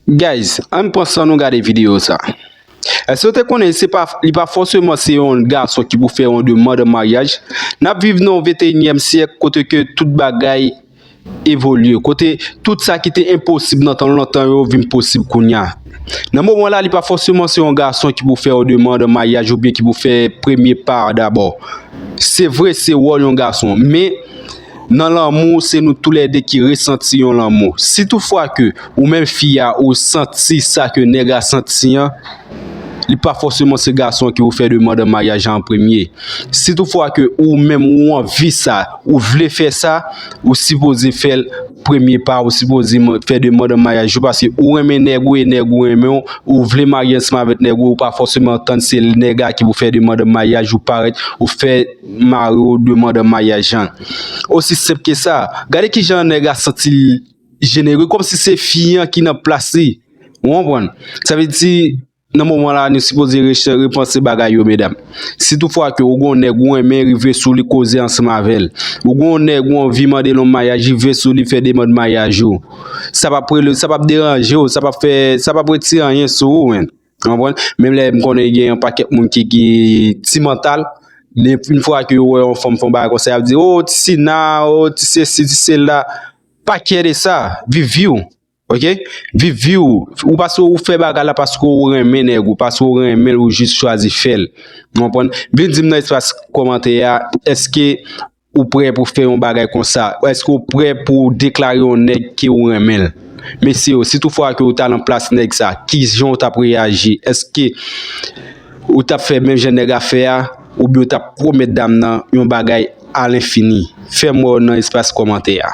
Guys ann pran san nou gade video sa. Èske w te konnen se pa li pa fòseman se yon gason ki pou fè yon demand an maryaj? N ap viv nan yon venteyinyèm syèk kote ke tout bagay evolye, kote tout sa ki te enposib nan tan lontan yo vin posib kounya. Nan moman la li pa fòseman se yon gason ki pou fè yon demand an maryaj oubyen ki pou fè premye pa a dabò. Se vre se wòl yon gason men. Nan lanmou, se nou tou lè de ki resanti yon lanmou. Si tout fwa ke ou menm fi a ou santi sa ke nèg la santi an, li pa fòseman se gason an ki pou fè demand an maryaj la an premye. Si tout fwa ke ou menm ou anvi sa, ou vle fè sa, ou sipoze fè l premye pa, ou sipoze fè demand an maryaj yo paske ou renmen nèg ou e nèg ou renmen w, ou vle marye ansanm avèk nèg ou e ou pa fòseman tann se nèg la ki pou fè demand an maryaj ou parèt ou fè. Mari w demann an maryaj an. Osi senp ke sa. Gade kijan nèg la santi l jenere kòmsi se fi an ki nan plas li. Ou konprann? Sa vle di nan moman la nou sipoze repanse bagay yo medam. Si tou fwa ke ou gon nèg ou renmen rive sou li koze ansanm avè l. Ou gon nèg ou anvi mande l an maryaj rive sou li fè demann maryaj ou. Sa pap rele sa pap deranje w sa pap fè sa pap retire anyen sou ou menn. Menm lè m konnen gen yon pakèt moun ki gen ti mantal, men yon fwa ke yo wè yon fanm fè yon bagay konsa, y ap di, O, ti Sina, o, ti sesi, ti sela. Pa kyè de sa. Viv vi w. Ok? Viv vi w. Ou pa si ou fè bagay la paske ou renmen nèg ou, paske ou renmen l, ou jis chwazi fè l. Ou konprann? Vin di m nan espas kòmantè a, èske Ou prè pou fè yon bagay konsa? Èske ou prè pou w deklare yon nèg ke ou renmen l? Mesye yo, si tout fwa ke ou ta lan plas nèg sa, ki jan ou tap reyaji? Èske ou tap fè menm jan nèg a fè a? Ou byen ou tap pwomèt dam nan yon bagay a lenfini? Fèm wè w nan espas kòmantè a.